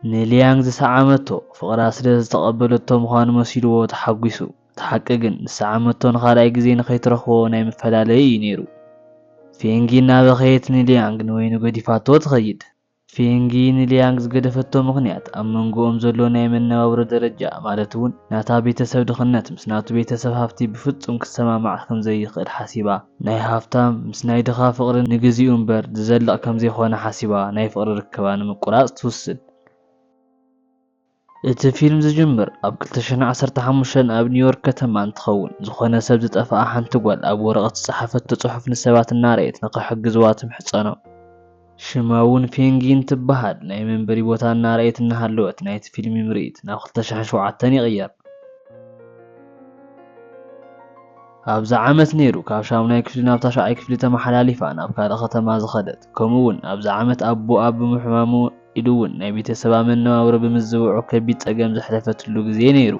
ንሊያንግ ዝሰዓመቶ ፍቕራ ስለ ዝተቐበለቶ ምዃኑ መሲሉዎ ተሓጒሱ። እቲ ሓቂ ግን፣ ዝሰዓመቶ ንኻልኣይ ግዜ ንኸይትረኽቦ ናይ ምፈላለዪ እዩ ነይሩ። ፌንጊ እናበኸየት ንሊያንግ ንበይኑ ገዲፋቶ ትኸይድ። ፌንጊ ንሊያንግ ዝገደፈቶ ምኽንያት፣ ኣብ መንጎኦም ዘሎ ናይ መነባብሮ ደረጃ፣ ማለት'ውን ናታ ቤተሰብ ድኽነት ምስ ናቱ ቤተሰብ ሃብቲ ብፍጹም ክሰማማዕ ከም ዘይኽእል ሓሲባ፣ ናይ ሃፍታም ምስ ናይ ድኻ ፍቕሪ ንግዚኡ እምበር ዝዘልቕ ከምዘይኮነ ሓሲባ ናይ ፍቕሪ ርክባ ንምቁራጽ ትውስን። እቲ ፊልም ዝጅምር ኣብ ክልተ ሽሕን ዓሰርተ ሓሙሽተን ኣብ ኒውዮርክ ከተማ እንትኸውን፣ ዝኾነ ሰብ ዝጠፍኣ ሓንቲ ጓል ኣብ ወረቐት ዝጸሓፈቶ ጽሑፍ ንሰባት እናርኣየት ንኽሕግዝዋ ትምሕጸኖም። ሽማ ውን ፔንጊን ትበሃል። ናይ መንበሪ ቦታ እናረኣየት እናሃለወት ናይቲ ፊልሚ ምርኢት ናብ ክልተ ሽሕን ሸውዓተን ይቕየር። ኣብዛ ዓመት ነይሩ ካብ ሻሙናይ ክፍሊ ናብ ታሽዓይ ክፍሊ ተመሓላሊፋ ናብ ካልእ ከተማ ዝኸደት። ከምኡ ውን ኣብዛ ዓመት ኣቡኣ ብምሕማሙ ኢሉ ውን ናይ ቤተሰባ መነባብሮ ብምዝብዑ ከቢድ ጸገም ዘሕለፈትሉ ግዜ ነይሩ።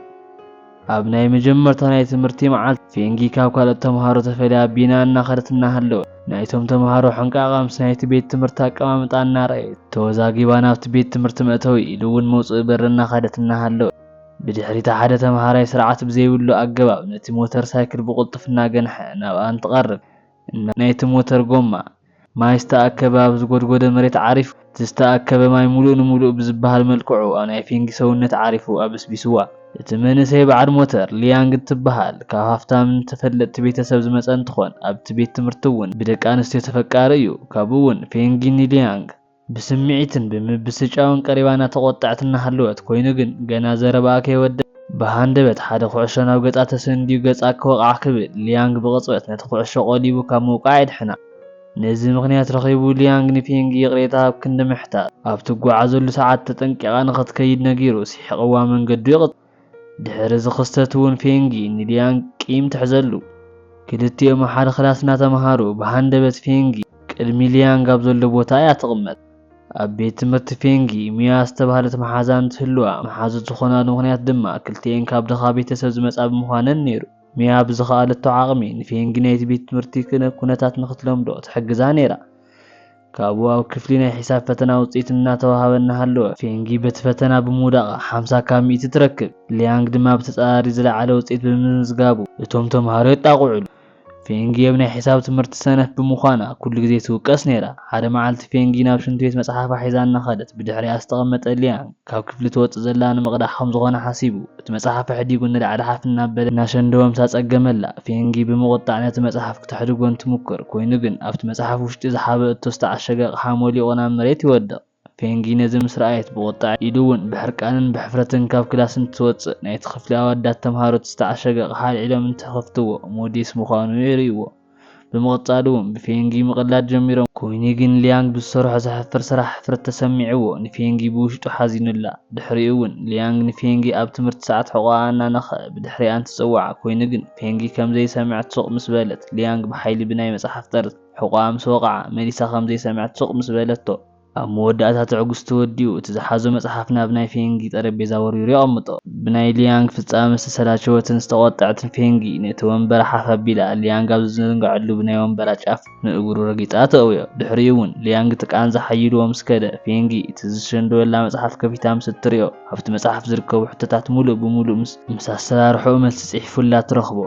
ኣብ ናይ መጀመርታ ናይ ትምህርቲ መዓልቲ ፌንጊ ካብ ካልኦት ተምሃሮ ተፈልያ ቢና እናኸደት እናሃለወት ናይቶም ተምሃሮ ሕንቃቓ ምስ ናይቲ ቤት ትምህርቲ ኣቀማምጣ እናረኣየት ተወዛጊባ ናብቲ ቤት ትምህርቲ መእተዊ ኢሉ እውን መውፅኢ በሪ እናኸደት እናሃለወት ብድሕሪታ ሓደ ተምሃራይ ስርዓት ብዘይብሉ ኣገባብ ነቲ ሞተር ሳይክል ብቕልጡፍ እናገንሐ ናብኣ እንትቐርብ ናይቲ ሞተር ጎማ፣ ማይ ዝተኣከበ ኣብ ዝጎድጎደ መሬት ዓሪፉ። እቲ ዝተኣከበ ማይ ሙሉእ ንሙሉእ ብዝበሃል መልክዑ ኣብ ናይ ፌንጊ ሰውነት ዓሪፉ ኣበስቢስዋ። እቲ መንእሰይ በዓል ሞተር፣ ሊያንግ እትበሃል ካብ ሃፍታምን ተፈለጥቲ ቤተሰብ ዝመጸ እንትኾን ኣብቲ ቤት ትምህርቲ እውን ብደቂ ኣንስትዮ ተፈቃሪ እዩ። ካብኡ እውን ፌንጊ ንሊያንግ። ብስምዒትን ብምብስጫውን ቀሪባና ተቖጣዕቲ እናሃለወት፣ ኮይኑ ግን ገና ዘረባኣ ከይወደኣ፣ ብሃንደበት ሓደ ኩዕሾ ናብ ገጻ ተሰንድዩ ገጻ ክወቕዓ ክብል፣ ሊያንግ ብቕጽበት ነቲ ኩዕሾ ቆሊቡ ካብ ምውቃዕ የድሕና። ነዚ ምኽንያት ረኺቡ ሊያንግ ንፔንጊ ይቕሬታ ኣብ ክንዲ ምሕታት፣ ኣብ ትጓዓዘሉ ሰዓት ተጠንቂቓ ንኽትከይድ ነጊሩ ስሒቕዋ መንገዱ ይቕጽል። ድሕሪ እዚ ክስተት እውን ፌንጊ ንሊያንግ ቂም ትሕዘሉ። ክልቲኦም ኣብ ሓደ ክላስ እናተምሃሩ ብሃንደበት ፌንጊ ቅድሚ ሊያንግ ኣብ ዘሎ ቦታ እያ ትቕመጥ። ኣብ ቤት ትምህርቲ ፌንጊ ሚያ ዝተባህለት መሓዛ እንትህልዋ መሓዙት ዝኾናሉ ምኽንያት ድማ ክልቲኤን ካብ ድኻ ቤተሰብ ዝመፃ ብምዃነን ነይሩ። ሚያ ብዝኸኣለቶ ዓቕሚ ንፌንጊ ናይቲ ቤት ትምህርቲ ኩነታት ንክትለምዶ ትሕግዛ ነይራ። ካብኡ ኣብ ክፍሊ ናይ ሒሳብ ፈተና ውጽኢት እናተወሃበ እናሃለወ፣ ፌንጊ በቲ ፈተና ብምውዳቓ ሓምሳ ካብ ሚእቲ ትረክብ፣ ሊያንግ ድማ ብተጻራሪ ዝለዓለ ውጽኢት ብምምዝጋቡ እቶም ተመሃሮ የጣቕዑሉ። ፌንጊ ኣብ ናይ ሒሳብ ትምህርቲ ሰነፍ ብምዃና ኩሉ ግዜ ትውቀስ ነይራ። ሓደ መዓልቲ ፌንጊ ናብ ሽንት ቤት መጽሓፋ ሒዛ እናኸደት ብድሕሪኣ ዝተቐመጠ ሊያንግ፣ ካብ ክፍሊ ትወጽእ ዘላ ንምቕዳሕ ከም ዝኾነ ሓሲቡ፣ እቲ መጽሓፍ ኣሕዲጉ ንላዕሊ ሓፍ እናበለ እናሸንደወ ምስ ኣጸገመላ፣ ፌንጊ ብምቑጣዕ ነቲ መጽሓፍ ክተሕድጎ እንትሙክር፣ ኮይኑ ግን ኣብቲ መጽሓፍ ውሽጢ ዝሓበእቶ ዝተዓሸገ ኣቕሓ ሞሊቑ ናብ መሬት ይወድቕ። ፌንጊ ነዚ ምስ ረኣየት ብቑጥዐ ኢሉ እውን ብሕርቃንን ብሕፍረትን ካብ ክላስ እንትትወጽእ፣ ናይቲ ክፍሊ ኣወዳት ተምሃሮ እቲ ዝተዓሸገ ኣቕሓ ኣልዒሎም እንትኽፍትዎ፣ ሞዴስ ምዃኑ የርእይዎ። ብምቕጻሉ እውን ብፌንጊ ምቕላድ ጀሚሮም። ኰይኑ ግን ሊያንግ ብዝሰርሖ ዘሕፍር ስራሕ ሕፍረት ተሰሚዕዎ ንፌንጊ ብውሽጡ ሓዚኑላ። ድሕሪኡ እውን ሊያንግ ንፌንጊ ኣብ ትምህርቲ ሰዓት ሕቖኣ ኣናነኽኣ ብድሕሪኣን ትጽውዓ። ኰይኑ ግን ፌንጊ ከም ዘይሰምዐት ሱቕ ምስ በለት፣ ሊያንግ ብሓይሊ ብናይ መጽሓፍ ጠርዚ ሕቖኣ ምስ ወቕዓ መሊሳ ከም ዘይሰምዐት ሱቕ ምስ በለቶ፣ ኣብ መወዳእታ ትዕግስቱ ወዲኡ፣ እቲ ዝሓዞ መጽሓፍ ናብ ናይ ፌንጊ ጠረጴዛ ወርዊሩ የቐምጦ። ብናይ ሊያንግ ፍጻመ ዝተሰላቸወትን ዝተቖጠዐትን ፌንጊ፣ ነቲ ወንበራ ሓፍ ኣቢላ፣ ሊያንግ ኣብ ዝዝንግዐሉ ብናይ ወንበራ ጫፍ ንእግሩ ረጊጻ ተእውዮ። ድሕሪኡ'ውን ሊያንግ እቲ ቃንዛ ሓይልዎ ምስ ከደ፣ ፌንጊ፣ እቲ ዝሸንደወላ መጽሓፍ ከፊታ ምስ እትርእዮ፣ ኣብቲ መጽሓፍ ዝርከቡ ሕቶታት ምሉእ ብምሉእ ምስ። ምስ ኣሰራርሓኡ መልሲ ጽሒፉላ ትረኽቦ።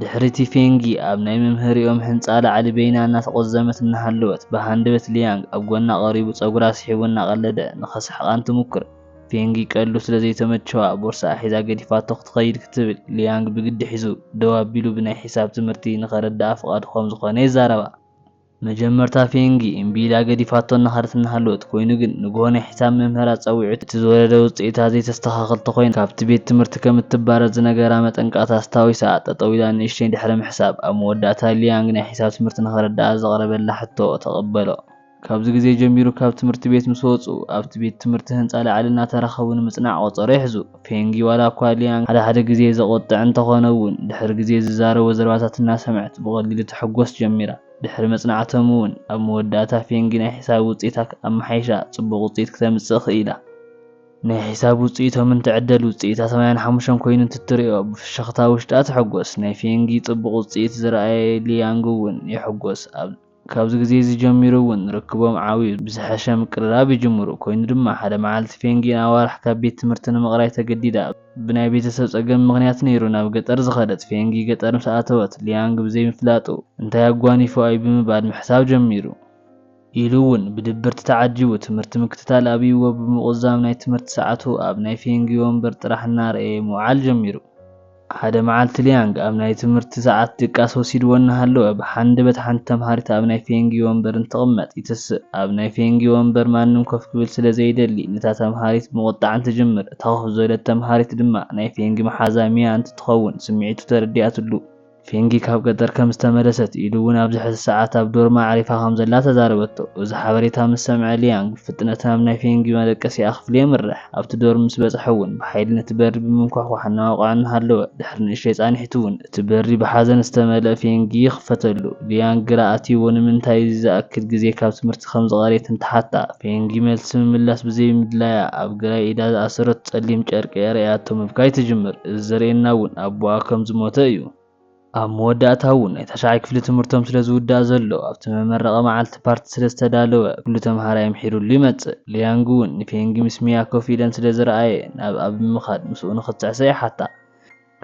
ድሕሪ እቲ ፌንጊ ኣብ ናይ መምህሪኦም ሕንጻ ላዕሊ በይና እናተቖዘመት እናሃለወት፣ ብሃንደበት ሊያንግ ኣብ ጎና ቀሪቡ ጸጉራ ስሒቡ እናቐለደ ንኸስሕቓ እንትሙክር፣ ፌንጊ ቀልዱ ስለ ዘይተመቸዋ ቦርስኣ ሒዛ ገዲፋቶ ክትኸይድ ክትብል ሊያንግ ብግዲ ሒዙ ደው ኣቢሉ ብናይ ሒሳብ ትምህርቲ ንኸረድኣ ፍቓዱ ከም ዝኾነ የዛረባ። መጀመርታ ፌንጊ እምቢ ኢላ ገዲፋቶ እናኸደት እናሃለወት፣ ኮይኑ ግን ንግሆ ናይ ሒሳብ መምህራ ጸዊዑ እቲ ዝወረደ ውጽኢታ ዘይተስተኻኽል ተኾይና ካብቲ ቤት ትምህርቲ ከም እትባረር ዝነገራ መጠንቀቕታ ኣስታዊሳ ጠጠው ኢላ ንእሽተይ ድሕሪ ምሕሳብ ኣብ መወዳእታ ሊያንግ ናይ ሒሳብ ትምህርቲ ንኸረድኣ ዘቕረበላ ሕቶ ተቐበሎ። ካብዚ ግዜ ጀሚሩ ካብ ትምህርቲ ቤት ምስ ወጹ ኣብቲ ቤት ትምህርቲ ህንጻ ላዕሊ እናተራኸቡ ንምጽናዕ ቆጸሮ ይሕዙ። ፌንጊ ዋላኳ ሊያንግ ሓደ ሓደ ግዜ ዘቖጥዕ እንተኾነ'ውን፣ ድሕሪ ግዜ ዝዛረቦ ዘረባታት እናሰምዐት ብቐሊሉ ትሕጎስ ጀሚራ። ድሕሪ መጽናዕቶም'ውን ኣብ መወዳእታ ፌንጊ ናይ ሒሳብ ውጽኢታ ኣመሓይሻ ጽቡቕ ውጽኢት ክተምጽእ ክኢላ። ናይ ሒሳብ ውጽኢቶም እንትዕደል ውጽኢታ ሰማንያን ሓሙሽተን ኮይኑ እንትትሪኦ ብፍሽኽታ ውሽጣ ትሕጎስ። ናይ ፌንጊ ጽቡቕ ውጽኢት ዝረኣየ ሊያንግ'ውን ይሕጎስ። ኣብ። ካብዚ ግዜ እዚ ጀሚሩ እውን ርክቦም ዓብዩ፣ ብዝሐሸ ምቅርራብ ይጅምሩ። ኮይኑ ድማ ሓደ መዓልቲ ፌንጊ ንኣዋርሕ ካብ ቤት ትምህርቲ ንምቕራይ ተገዲዳ። ብናይ ቤተሰብ ፀገም ምኽንያት ነይሩ ናብ ገጠር ዝኸደት ፌንጊ ገጠር ምስ ኣተወት ሊያንግ ብዘይምፍላጡ እንታይ ኣጓኒፉ ኣዩ ብምባል ምሕሳብ ጀሚሩ። ኢሉ እውን ብድብርት ተዓጂቡ ትምህርቲ ምክትታል ኣብይዎ ብምቑዛም ናይ ትምህርቲ ሰዓቱ ኣብ ናይ ፌንጊ ወንበር ጥራሕ እናረኣየ ምውዓል ጀሚሩ። ሓደ መዓልቲ ሊያንግ ኣብ ናይ ትምህርቲ ሰዓት ድቃስ ወሲድዎ እናሃለወ፣ ብሓንደበት ሓንቲ ተምሃሪት ኣብ ናይ ፌንጊ ወንበር እንትቕመጥ ይትስእ። ኣብ ናይ ፌንጊ ወንበር ማንም ኮፍ ክብል ስለ ዘይደሊ፣ ነታ ተምሃሪት ብምቑጣዕን ትጅምር። እታ ኮፍ ዝበለት ተምሃሪት ድማ ናይ ፌንጊ መሓዛ ሚያ እንትትኸውን ስምዒቱ ተረዲኣትሉ። ፌንጊ ካብ ገጠር ከም ዝተመለሰት ኢሉ እውን ኣብዚ ሕዚ ሰዓት ኣብ ዶርማ ኣዕሪፋ ከም ዘላ ተዛረበቶ። እዚ ሓበሬታ ምስ ሰምዐ ሊያንግ ብፍጥነት ናብ ናይ ፌንጊ መደቀሲኣ ክፍሊ የምርሕ። ኣብቲ ዶርም ምስ በጽሐ እውን ብሓይሊ ነቲ በሪ ብምንኳሕኳሕ እናወቕዐ እናሃለወ፣ ድሕሪ ንእሽተይ ጻኒሕቱ እውን እቲ በሪ ብሓዘን ዝተመልአ ፌንጊ ይኽፈተሉ። ሊያን ግራ ኣትይዎ ንምንታይ እዚ ዝኣክል ግዜ ካብ ትምህርቲ ከም ዝቐረየት እንትሓታ፣ ፌንጊ መልሲ ምምላስ ብዘይምድላያ ኣብ ግራይ ኢዳ ዝኣሰረቶ ጸሊም ጨርቂ ኣርእያቶ ምብካይ ትጅምር። እዚ ዘርእየና እውን ኣቦኣ ከም ዝሞተ እዩ። ኣብ መወዳእታ እውን ናይ ታሽዓይ ክፍሊ ትምህርቶም ስለ ዝውዳእ ዘሎ ኣብቲ መመረቒ መዓልቲ ፓርቲ ስለ ዝተዳለወ ኩሉ ተምሃራይ ኣምሒሩሉ ይመጽእ። ሊያንግ እውን ንፌንጊ ምስ ሚያ ኮፍ ኢለን ስለ ዝረኣየ ናብ ኣብ ብምኻድ ምስኡ ንኽትስዕስዕ ይሓታ።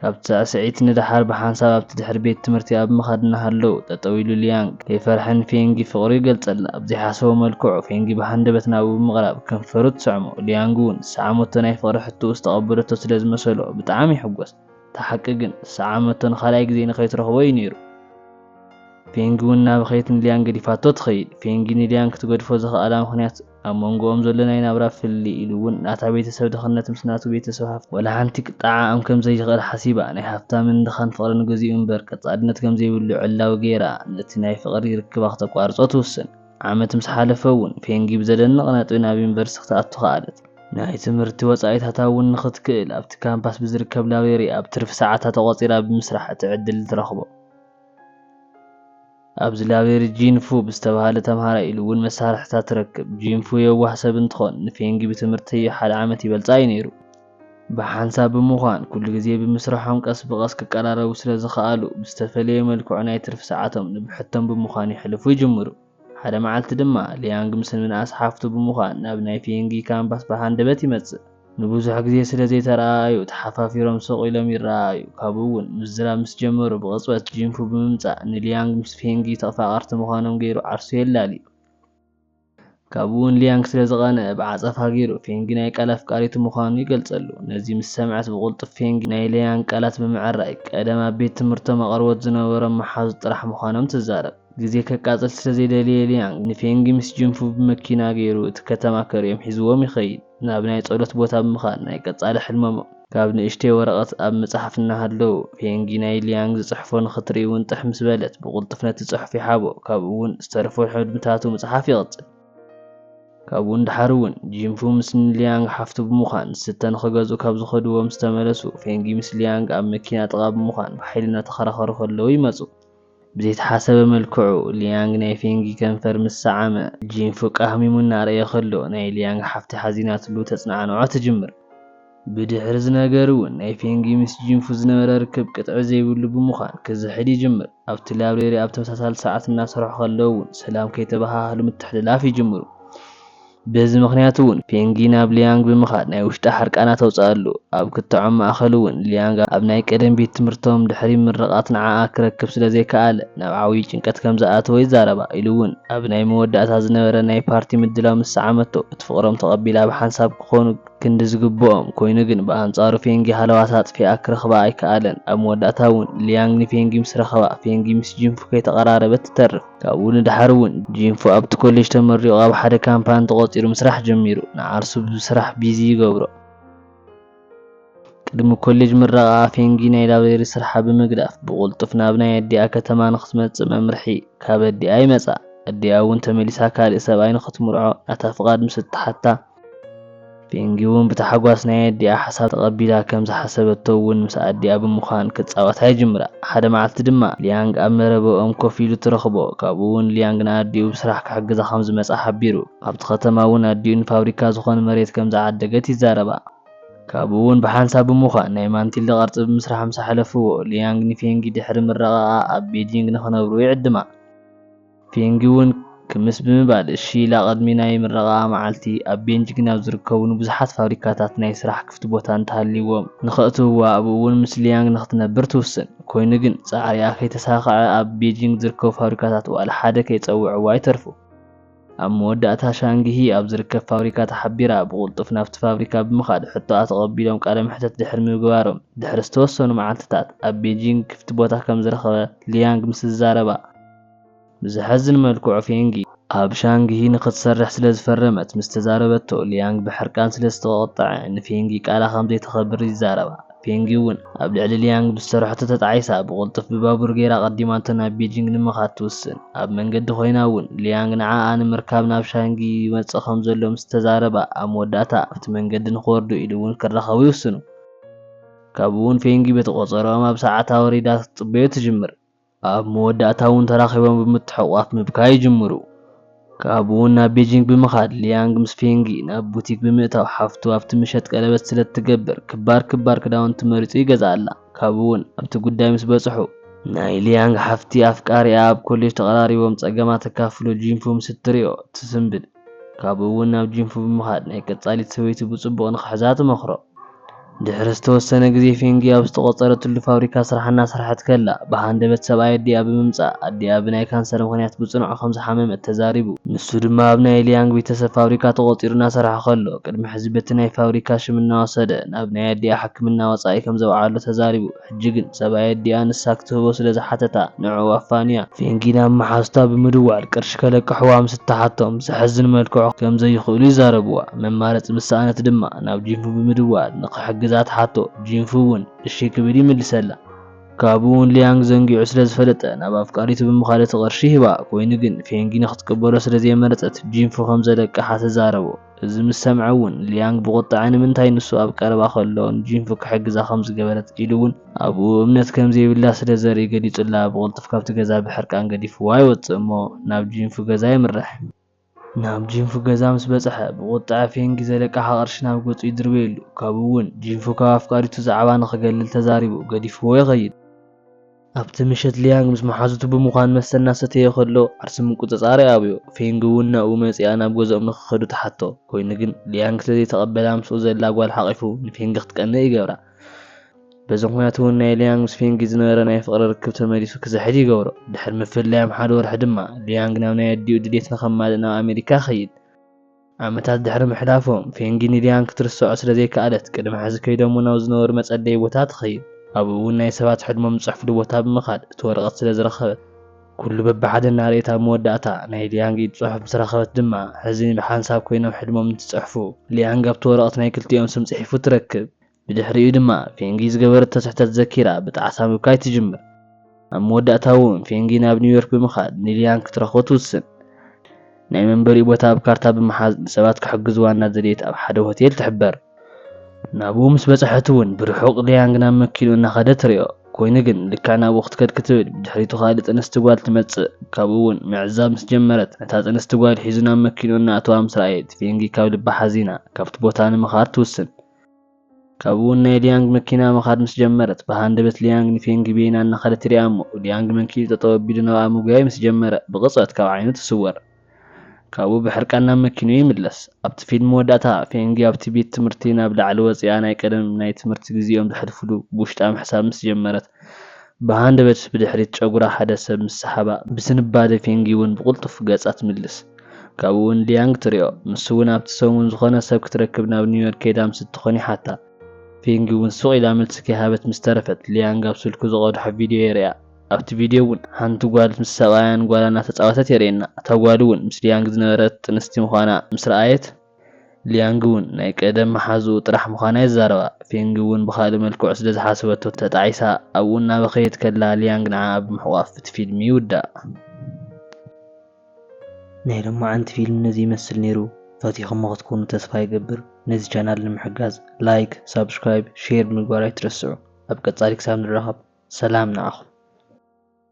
ካብቲ ሳዕስዒት ንደሓር ብሓንሳብ ኣብቲ ድሕሪ ቤት ትምህርቲ ኣብ ምኻድ እናሃለዉ ጠጠው ኢሉ ሊያንግ ከይፈርሐ ንፌንጊ ፍቕሩ ይገልጸላ። ኣብ ዘይሓሰቦ መልክዑ ፌንጊ ብሃንደበት ናብኡ ብምቕራብ ከንፈሩ ትስዕሞ። ሊያንግ እውን ዝሰዓመቶ ናይ ፍቕሪ ሕቶኡ ዝተቐበለቶ ስለ ዝመሰሎ ብጣዕሚ ይሕጎስ። እታ ሓቂ ግን ሰዓመቶ ንኻልኣይ ግዜ ንኸይትረኽቦ እዩ ነይሩ። ፌንጊ እውን ናበኸየት ንሊያን ገዲፋቶ ትኸይድ። ፌንጊ ንሊያን ክትገድፎ ዘኽኣላ ምኽንያት ኣብ መንጎኦም ዘሎ ናይ ናብራ ፍልልይ ኢሉ እውን ናታ ቤተሰብ ድኽነት ምስ ናቱ ቤተሰብ ሃፍቲ ዋላ ሓንቲ ክጠዓዓም ከም ዘይኽእል ሓሲባ ናይ ሃፍታምን ድኻን ፍቕሪ ንግዚኡ እምበር ቀጻልነት ከም ዘይብሉ ዕላዊ ገይራ ነቲ ናይ ፍቕሪ ርክባ ክተቋርጾ ትውስን። ዓመት ምስ ሓለፈ እውን ፌንጊ ብዘደንቕ ነጥቢ ናብ ዩኒቨርሲቲ ክትኣቱ ከኣለት። ናይ ትምህርቲ ወጻኢታታ እውን ንኽትክእል ኣብቲ ካምፓስ ብዝርከብ ላብሬሪ ኣብ ትርፊ ሰዓታ ተቖጺራ ብምስራሕ እቲ ዕድል ትረኽቦ። ኣብዚ ላብሬሪ ጂን ፉ ብዝተባህለ ተምሃራይ ኢሉ እውን መሳርሕታት ትረክብ። ጂን ፉ የዋህ ሰብ እንትኾን ንፌንጊ ብትምህርተዮ ሓደ ዓመት ይበልጻ እዩ ነይሩ። ብሓንሳብ ብምዃን ኩሉ ግዜ ብምስርሖም ቀስ ብቐስ ክቀራረቡ ስለ ዝኸኣሉ፣ ብዝተፈለየ መልክዑ ናይ ትርፊ ሰዓቶም ንብሕቶም ብምዃን የሕልፉ ይጅምሩ። ሓደ መዓልቲ ድማ፣ ሊያንግ ምስ ምንኣስ ሓፍቱ ብምዃን ናብ ናይ ፊየንጊ ካምፓስ ብሃንደበት ይመጽእ። ንብዙሕ ግዜ ስለ ዘይተረኣኣዩ ተሓፋፊሮም ስቕ ኢሎም ይረኣኣዩ፣ ካብኡ'ውን ምዝራብ ምስ ጀመሩ ብቕጽበት ጂንፉ ብምምጻእ ንሊያንግ ምስ ፊየንጊ ተፋቐርቲ ምዃኖም ገይሩ ዓርሱ የላልዩ። ካብኡ'ውን ሊያንግ ስለ ዝቐንኣ ብዓጸፋ ገይሩ ፌንጊ ናይ ቃል ኣፍቃሪቱ ምዃኑ ይገልጸሉ። ነዚ ምስ ሰምዐት ብቕልጡፍ ፌንጊ ናይ ሊያንግ ቃላት ብምዕራይ፣ ቀደም ኣብ ቤት ትምህርቶም ኣቕርቦት ዝነበሮም መሓዙት ጥራሕ ምዃኖም ትዛረብ። ግዜ ከቃጽል ስለ ዘይደለየ ሊያንግ ንፌንጊ ምስ ጂንፉ ብመኪና ገይሩ እቲ ከተማ ከርእዮም ሒዝዎም ይኸይድ። ናብ ናይ ጸሎት ቦታ ብምኻድ ናይ ቀጻሊ ሕልሞም ካብ ንእሽተይ ወረቐት ኣብ ምጽሓፍ እናሃለዉ ፔንጊ ናይ ሊያንግ ዝጽሕፎ ንኽትርኢ ውን ጥሕ ምስ በለት ብቕልጡፍ ነቲ ጽሑፍ ይሓቦ ካብኡ ውን ዝተረፉ ሕልምታቱ ምጽሓፍ ይቕጽል። ካብኡ ንደሓር ውን ጂንፉ ምስ ን ሊያንግ ሓፍቱ ብምዃን ዝስተ ንኽገዝኡ ካብ ዝኸድዎ ምስ ተመለሱ ፔንጊ ምስ ሊያንግ ኣብ መኪና ጥቓ ብምዃን ብሓይሊ እናተኸራኸሩ ከለዉ ይመጹ። ብዘይተሓሰበ መልክዑ፣ ሊያንግ ናይ ፌንጊ ከንፈር ምስ ሰዓመ፣ ጂን ፉቃ ሃሚሙ እናረኣየ ከሎ፣ ናይ ሊያንግ ሓፍቲ ሓዚናትሉ ተጽናዕንዖ ትጅምር። ብድሕሪ እዚ ነገር'ውን ናይ ፌንጊ ምስ ጂን ፉ ዝነበረ ርክብ ቅጥዒ ዘይብሉ ብምዃን ክዝሕል ይጅምር። ኣብቲ ላብሬሪ ኣብ ተመሳሳሊ ሰዓት እናሰርሑ ከለው'ውን ሰላም ከይተበሃሃሉ ምትሕልላፍ ይጅምሩ። በዚ ምኽንያት እውን ፔንጊ ናብ ሊያንግ ብምኻድ ናይ ውሽጢ ሓርቃና ተውጽኣሉ። ኣብ ክትዖም ማእከል እውን ሊያንግ ኣብ ናይ ቀደም ቤት ትምህርቶም ድሕሪ ምርቓት ንዓኣ ክረክብ ስለ ዘይከኣለ ናብ ዓውዪ ጭንቀት ከም ዝኣተወ ይዛረባ። ኢሉ እውን ኣብ ናይ መወዳእታ ዝነበረ ናይ ፓርቲ ምድላው ምስ ሰዓመቶ እቲ ፍቕሮም ተቐቢላ ብሓንሳብ ክኾኑ ክንዲ ዝግብኦም ኮይኑ ግን ብኣንጻሩ ፔንጊ ሃለዋታ ኣጥፊኣ ክረኽባ ኣይከኣለን። ኣብ መወዳእታ እውን ሊያንግ ንፔንጊ ምስ ረኸባ ፔንጊ ምስ ጂንፉ ከይተቐራረበት ትተርፍ። ካብኡ ንደሓር እውን ጂንፎ ኣብቲ ኮሌጅ ተመሪቑ ኣብ ሓደ ካምፓኒ ተቖፂሩ ምስራሕ ጀሚሩ ንዓርሱ ብስራሕ ቢዚ ይገብሮ። ቅድሚ ኮሌጅ ምረቓኣ ፌንጊ ናይ ላብሬሪ ስርሓ ብምግዳፍ ብቕልጡፍ ናብ ናይ ኣዲኣ ከተማ ንክትመፅእ መምርሒ ካብ ኣዲኣ ይመፃ። ኣዲኣ እውን ተመሊሳ ካሊእ ሰብኣይ ንክትምርዖ ናታ ፍቓድ ምስ እትሓታ፣ ፒንጊ'ውን ብታሕጓስ ናይ ኣዲኣ ሓሳብ ተቐቢላ፣ ከም ዝሓሰበቶ እውን ምስ ኣዲኣ ብምዃን ክጻወታ ይጅምራ። ሓደ መዓልቲ ድማ ሊያንግ ኣብ መረበኦም ኮፍ ኢሉ ትረኽቦ። ካብኡ'ውን ሊያንግ ንኣዲኡ ብስራሕ ክሕግዛ ከም ዝመጽኣ ሓቢሩ። ኣብቲ ከተማ እውን ኣዲኡ ንፋብሪካ ዝኾን መሬት ከም ዝዓደገት ይዛረባ። ካብኡ'ውን ብሓንሳብ ብምዃን ናይ ማንቲልደ ቅርጺ ብምስራሕ ምስ ኣሕለፍዎ፣ ሊያንግ ንፔንጊ ድሕሪ ምረቓቓ ኣብ ቤጂንግ ንኽነብሩ ይዕድማ። ፌንጊ እውን ክምስ ብምባል እሺ ኢላ ቅድሚ ናይ ምረቓኣ መዓልቲ ኣብ ቤንጂግን ኣብ ዝርከቡ ንብዙሓት ፋብሪካታት ናይ ስራሕ ክፍቲ ቦታ እንተሃልይዎም ንኸእትውዋ ኣብኡ እውን ምስ ሊያንግ ንኽትነብር ትውስን። ኮይኑ ግን ፃዕሪኣ ከይተሳኸዐ ኣብ ቤጂንግ ዝርከቡ ፋብሪካታት ዋላ ሓደ ከይፀውዕዋ ይተርፉ። ኣብ መወዳእታ ሻንግሂ ኣብ ዝርከብ ፋብሪካ ተሓቢራ ብቕልጡፍ ናብቲ ፋብሪካ ብምኻድ ሕቶኣ ተቐቢሎም ቃለ መሕተት ድሕሪ ምግባሮም ድሕሪ ዝተወሰኑ መዓልቲታት ኣብ ቤጂንግ ክፍቲ ቦታ ከምዝረኸበ ሊያንግ ምስ ዝዛረባ ብዘሐዝን መልክዑ ፌንጊ፣ ኣብ ሻንግሂ ንኽትሰርሕ ስለ ዝፈረመት ምስ ተዛረበቶ፣ ሊያንግ ብሕርቃን ስለ ዝተቖጥዐ፣ ንፌንጊ ቃላ ከም ዘይተኸብር ይዛረባ። ፌንጊ እውን፣ ኣብ ልዕሊ ሊያንግ ብዝሰርሐቶ ተጣዒሳ፣ ብቕልጡፍ ብባቡር ገይራ ኣቐዲማቶ ናብ ቤጂንግ ንምኻድ ትውስን። ኣብ መንገዲ ኮይና እውን፣ ሊያንግ ንዓኣ ንምርካብ ናብ ሻንግሂ ይመጽእ ከም ዘሎ ምስ ተዛረባ፣ ኣብ መወዳእታ ኣብቲ መንገዲ ንኽወርዱ ኢሉ እውን ክራኸቡ ይውስኑ። ካብኡ እውን ፌንጊ በቲ ቆጸርኦም ኣብ ሰዓታ ወሪዳ ክትጽበዮ ትጅምር። ኣብ መወዳእታ'ውን ተራኺቦም ብምትሕቑቋፍ ምብካይ ይጅምሩ። ካብኡ'ውን ናብ ቤጂንግ ብምኻድ ሊያንግ ምስ ፌንጊ ናብ ቡቲክ ብምእታው ሓፍቱ ኣብቲ ምሸት ቀለበት ስለእትገብር ክባር ክባር ክዳውንቲ መሪጹ ይገዝኣላ። ካብኡ'ውን ኣብቲ ጉዳይ ምስ በጽሑ። ናይ ሊያንግ ሓፍቲ ኣፍቃሪኣ ኣብ ኮሌጅ ተቐራሪቦም ጸገማ ተካፍሎ ጂንፉ ምስ እትሪኦ ትስንብድ። ካብኡ እውን ናብ ጂንፉ ብምኻድ ናይ ቀጻሊት ሰበይቱ ብጽቡቕ ንኽሕዛ ትመኽሮ። ድሕሪ ዝተወሰነ ግዜ ፌንጊ ኣብ ዝተቖጸረትሉ ፋብሪካ ስራሕ እናሰርሐት ከላ ብሃንደበት ሰብኣይ ኣዲኣ ብምምጻእ ኣዲኣ ብናይ ካንሰር ምኽንያት ብጽኑዕ ከም ዝሓመመት ተዛሪቡ። ንሱ ድማ ኣብ ናይ ሊያንግ ቢተሰብ ፋብሪካ ተቖጺሩ እናሰርሐ ከሎ ቅድሚ ሕዚ በቲ ናይ ፋብሪካ ሽም እናወሰደ ናብ ናይ ኣዲኣ ሕክምና ወጻኢ ከም ዘውዓሎ ተዛሪቡ። ሕጂ ግን ሰብኣይ ኣዲኣ ንሳ ክትህቦ ስለ ዝሓተታ ንዕኡ ኣፋንያ፣ ፊንጊ ናብ መሓዙታ ብምድዋል ቅርሺ ከለቅሕዋ ምስ እትሓቶም ብዘሕዝን መልክዑ ከም ዘይኽእሉ ይዛረብዋ። መማረጺ ምስ ሰኣነት ድማ ናብ ጂንፉ ብምድዋል ንኽሕግዛ ትሓቶ፣ ጂንፉ እውን እሺ ክብል ይምልሰላ። ካብኡ እውን ሊያንግ ዘንጊዑ ስለ ዝፈለጠ ናብ ኣፍቃሪቱ ብምኻድ እቲ ቅርሺ ይህባ፣ ኮይኑ ግን ፊንጊ ንኽትቅበሎ ስለ ዘይመረጸት ጂንፉ ከም ዘለቅሓ ትዛረቦ። እዚ ምስ ሰምዐ እውን ሊያንግ ብቑጥዐ ንምንታይ ንሱ ኣብ ቀረባ ከሎ ንጂንፉ ክሕግዛ ከም ዝገበረት ኢሉ እውን ኣብኡ እምነት ከም ዘይብላ ስለ ዘርኢ ገሊጹላ ብቕልጡፍ ካብቲ ገዛ ብሕርቃን ገዲፍዋ ይወጽእ እሞ ናብ ጂንፉ ገዛ የምርሕ። ናብ ጂንፉ ገዛ ምስ በጽሐ ብቑጥዐ ፌንጊ ዘለቃሓ ቅርሺ ናብ ገጹ ይድርበየሉ ካብኡ እውን ጂንፉ ካብ ኣፍቃሪቱ ዛዕባ ንኽገልል ተዛሪቡ ገዲፍዎ ይኸይድ። ኣብቲ ምሸት ሊያንግ ምስ መሓዙቱ ብምዃን መስተ እናሰተየ ኸሎ ዓርሰ ምቁጽጻር ይኣብዮ። ፌንግ እውን ናብኡ መጺኣ ናብ ገዝኦም ንኽኸዱ ትሓቶ። ኰይኑ ግን፣ ሊያንግ ስለ ዘይተቐበላ ምስኡ ዘላ ጓል ሓቚፉ ንፌንግ ክትቀንእ ይገብራ። በዚ ምኽንያት እውን ናይ ሊያንግ ምስ ፌንግ ዝነበረ ናይ ፍቕሪ ርክብ ተመሊሱ ክዝሕል ይገብሮ። ድሕሪ ምፍላዮም ሓደ ወርሒ ድማ፣ ሊያንግ ናብ ናይ ኣዲኡ ድሌት ንኸማልእ ናብ ኣመሪካ ይኸይድ። ዓመታት ድሕሪ ምሕላፎም፣ ፌንጊ ንሊያን ክትርሰዖ ስለ ዘይከኣለት፣ ቅድሚ ሕዚ ከይዶሞ ናብ ዝነበሩ መጸለዪ ቦታ ትኸይድ። ኣብኡ እውን ናይ ሰባት ሕድሞም ዝጽሕፍሉ ቦታ ብምኻድ እቲ ወረቐት ስለ ዝረኸበት፣ ኩሉ በብሓደ እናርኣየት ኣብ መወዳእታ ናይ ሊያንግ ኢድ ጽሑፍ ምስ ረኸበት ድማ፣ ሕዚ ብሓንሳብ ኮይኖም ሕድሞም እንትጽሕፉ፣ ሊያንግ ኣብቲ ወረቐት ናይ ክልቲኦም ስም ጽሒፉ ትረክብ። ብድሕሪኡ ድማ ፌንጊ ዝገበረቶ ስሕተት ዘኪራ ብጣዕሳ ምብካይ ትጅምር። ኣብ መወዳእታ'ውን ፌንጊ ናብ ኒውዮርክ ብምኻድ ንሊያን ክትረኽቦ ትውስን። ናይ መንበሪኡ ቦታ ኣብ ካርታ ብምሓዝ ንሰባት ክሕግዝዋ እናደለየት ኣብ ሓደ ሆቴል ትሕበር። ናብኡ ምስ በጽሐት'ውን ብርሑቕ ሊያንግ ናብ መኪንኡ እናኸደ ትሪኦ። ኮይኑ ግን ልክዕ ናብኡ ክትከድ ክትብል ብድሕሪቱ ካልእ ጥንስቲ ጓል ትመጽእ። ካብኡ'ውን ምዕዛብ ምስ ጀመረት ነታ ጥንስቲ ጓል ሒዙ ናብ መኪንኡ እናኣተዋ ምስ ረኣየት ፌንጊ ካብ ልባ ሓዚና ካብቲ ቦታ ንምኻድ ትውስን። ካብኡ'ውን ናይ ሊያንግ መኪና ምኻድ ምስ ጀመረት፣ ብሃንደበት ሊያንግ ንፌንግ ቢይ እናኸደት ትሪኣ እሞ፣ ሊያንግ መንኪኡ ጠጠው ኣቢሉ ናብኣ ምጉያይ ምስ ጀመረ፣ ብቕጽበት ካብ ዓይኑ ትስወር። ካብኡ ብሕርቃን ናብ መኪንኡ ይምለስ። ኣብቲ ፊልም መወዳእታ፣ ፌንግ ኣብቲ ቤት ትምህርቲ ናብ ላዕሊ ወጺኣ ናይ ቀደም ናይ ትምህርቲ ግዜኦም ዘሕልፍሉ ብውሽጣ ምሕሳብ ምስ ጀመረት፣ ብሃንደበት ብድሕሪት ጨጉራ ሓደ ሰብ ምስ ሰሓባ፣ ብዝንባሌ ፌንጊ'ውን ብቕልጡፍ ገጻ ትምልስ። ካብኡ'ውን ሊያንግ ትሪኦ። ንሱ'ውን ኣብቲ ሰሙን ዝኾነ ሰብ ክትረክብ ናብ ኒውዮርክ ከይዳ ምስ እትኾን ይሓታ። ፌንጊ'ውን ሱቕ ኢላ መልሲ ከይሃበት ምስ ተረፈት፣ ሊያንግ ኣብ ስልኩ ዝቐድሖ ቪድዮ የርእያ። ኣብቲ ቪድዮ'ውን ሓንቲ ጓል ምስ ሰብኣያን ጓላን እናተጻወተት የርእየና። እታ ጓል'ውን ምስ ሊያንግ ዝነበረት ጥንስቲ ምዃና ምስ ረኣየት፣ ሊያንግ'ውን ናይ ቀደም መሓዝኡ ጥራሕ ምዃና ይዛረባ። ፌንግ'ውን ብኻልእ መልክዑ ስለ ዝሓሰበቶ ተጣዒሳ። ኣብኡ እናበኸየት ከላ ሊያንግ ንዓኣ ብምሕቋፍ እቲ ፊልም ይውዳእ። ናይ ሎማዓንቲ ፊልም ነዚ ይመስል ነይሩ ፈቲኹሞ ክትኮኑ ተስፋ ይገብር ነዚ ቻናል ንምሕጋዝ ላይክ ሳብስክራይብ ሼር ብምግባር ኣይትረስዑ ኣብ ቀፃሊ ክሳብ ንራኸብ ሰላም ንዓኹም።